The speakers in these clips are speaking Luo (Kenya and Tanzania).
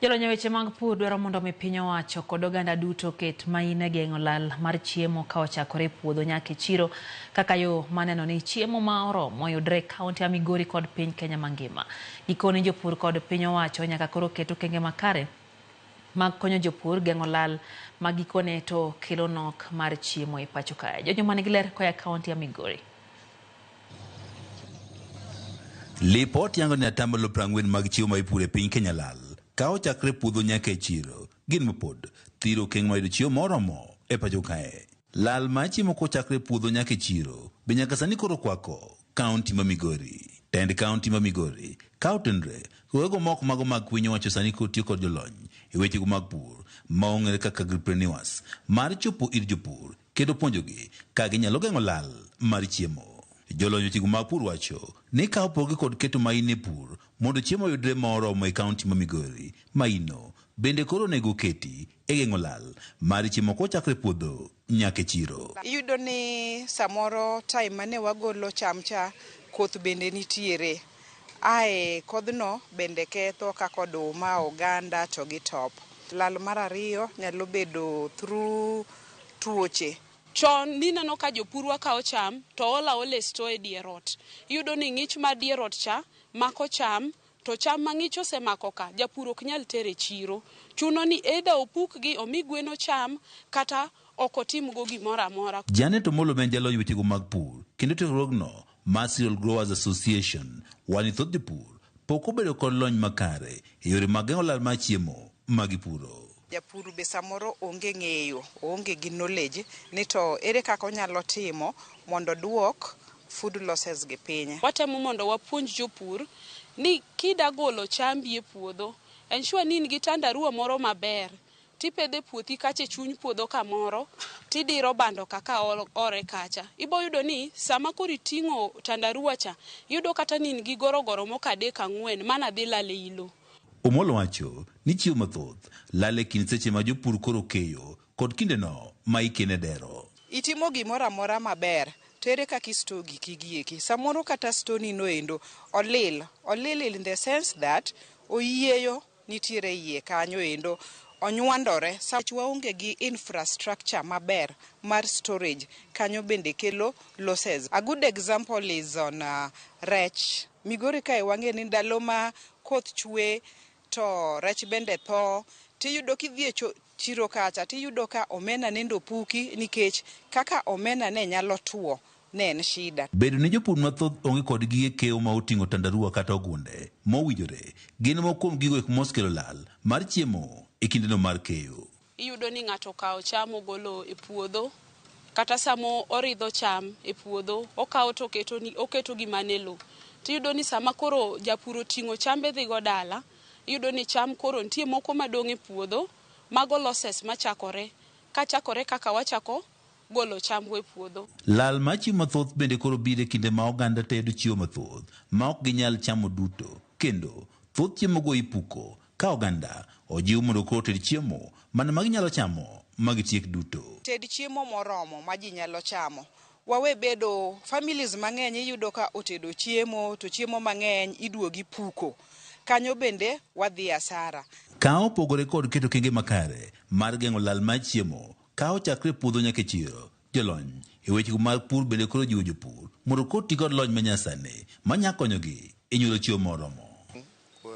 Jolony e weche mag pur dwaro mondo mi piny owacho kod oganda duto ket main e geng'o lal mar chiemo ka ochakore e puodho nyaka e chiro kaka yo maneno ni chiemo ma oromo yudre e kaunti ma Migori kod piny Kenya mangima. Gikone jopur kod piny owacho nyaka koro ket okenge makare mag konyo jopur geng'o lal ma gikone to kelo nok mar chiemo e pacho kae. Jojo man gi ler koya kaunti ya Migori. Lipot yango ni atamalo prang'wen mag chiwo ma ipuro e piny Kenya lal ka ochakre puodho nyaka e chiro. Gin mapod thiro okeng' mayudo chiwo moromo e pacho kae. Lal ma chiemo kochakre puodho nyaka e chiro be nyaka sani koro kwako kaunti ma Migori. Tend kaunti ma Migori ka otenre kogego ma ok mago mag piny owacho sani koro tiyo kod jolony e wechego mag pur ma ong'ere kaka agripreneurs mar chopo ir jopur kendo puonjogi kaka ginyalo geng'o lal mar chiemo. Jolony weche go mag pur wacho ni ka opoge kod keto main e pur mondo chiemo oyudre ma oromo e kaunti ma Migori, maino bende koro onego oketi e geng'o lal mar chiemo kochakre puodho nyaka e chiro. Iyudo ni samoro time mane wagolo cham cha koth bende nitiere, ae kodhno bende ketho kaka oduma, oganda to gi top. Lal mar ariyo nyalo bedo through. tuoche. Chon nineno ka jopurwa kawo cham to olo aola e store e dier ot. Iyudo ni ng'ich mar dier ot cha mako cham to cham ma ng'ich osemako ka, japur ok nyal tero e chiro. Chuno ni either opukgi omi gwen ocham kata ok otimgo gimoro amora. Janet Omolo ma en jaloy wechego mag pur kendo tiegruogno Mar Cereal Growers Association, Wanitho jopur pok obedo kod lony makare e yore mag geng'o lal mar chiemo ma gipuro. Japur be samoro onge ng'eyo, oonge gi knowledge ni to ere kaka onyalo timo mondo oduok food losses gi piny. Watemo mondo wapuonj jopur ni kida golo chambi e puodho, ensure ni in gi tandarua moro maber. Tipedho e puothi kacha e chuny puodho kamoro tidiro bando ka ka ore kacha. Ibo yudo ni sama koro iting'o tandarua cha, iyudo kata ni in gi gorogoro moko adek ang'wen mana dhi lal ei lo. Omolo wacho ni chiew mathoth lal e kind seche ma jopur koro keyo kod kindeno ma ikene dero. Itimo gimoro amora maber to ere kaka i store giki gi eki. Samoro kata store ni no endo olil. Olil in the sense that oyieyo. nitiere eiye kanyo endo onywandore sa waonge gi infrastructure maber mar storage kanyo bende kelo losses. A good example is on rech, Migori kae wang'e ni ndalo ma koth chwe to rech bende tho tiyudo kidhi e chiro kacha tiyudo ka omena nende opuki nikech kaka omena ne nyalo two. ne en shida. Bedo ni jopur mathoth onge kod gige keyo ma oting'o tandarua kata ogunde mowinjore gin moko kuom gigo eko mosekelo lal mar chiemo e kindeno mar keyo. Iyudo ni ng'ato okawo cham ogolo e puodho kata sama oridho cham e puodho okawo to oketo gi mana e lowo to iyudo ni sama koro japur oting'o chambe dhi go dala iyudo ni cham koro nitie moko madong' e puodho mago losses machakore kachakore kaka wachako golo chambwa e puodho. Lal mar chiemo mathoth bende koro biro e kinde ma oganda tedo chiemo mathoth ma ok ginyal chamo duto, kendo thoth chiemogo ipuko ka oganda ojiw mondo koro oted chiemo mana ma ginyalo chamo ma gitiek duto. Ted chiemo moromo ma ji nyalo chamo. Wawe bedo, families mang'eny iyudo ka otedo chiemo to chiemo mang'eny iduogo ipuko. Kanyo bende wadhi asara. Ka opogore kod keto okenge makare mar geng'o lal mar chiemo, Ka ochakre e puodho nyaka e chiro, jolony e weche mag pur bende koro jiwo jopur mondo koro ti kod lony ma nyasani ma nyalo konyogi e nyuolo chiemo moromo.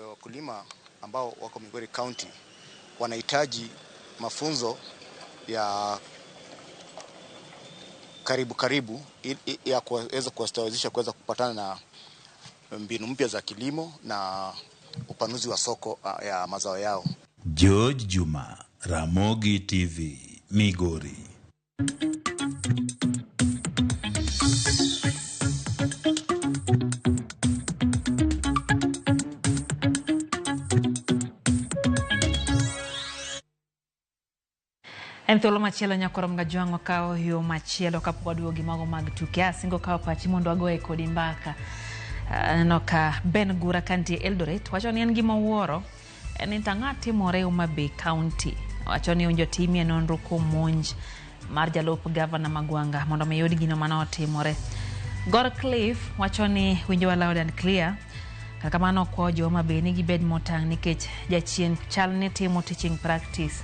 Wakulima ambao wako Migori County wanahitaji mafunzo ya karibu karibu ili ya kuweza kuwastawezesha kuweza kupatana na mbinu mpya za kilimo na upanuzi wa soko ya mazao yao. George Juma. Ramogi TV, Migori. En thuolo machielo nyakoro mga jwang'o kawo yo machielo kapok waduogo gi mago mag tuke asingo kawo pachi mondo wagoye kodi mbaka aneno ah, ka Ben Gura kantie Eldoret wacho ni en gima owuoro En ni to ang'o timore Homa Bay County? Wacho ni onjo timie nonro kuom monj mar jalup gavana Magwanga mondo mi yud gino mane otimore. Gor Cliff wacho ni winjowa loud and clear. Kar kamano okwayo jo Homa Bay ni gibed motang' nikech jachien chal ni timo teaching practice.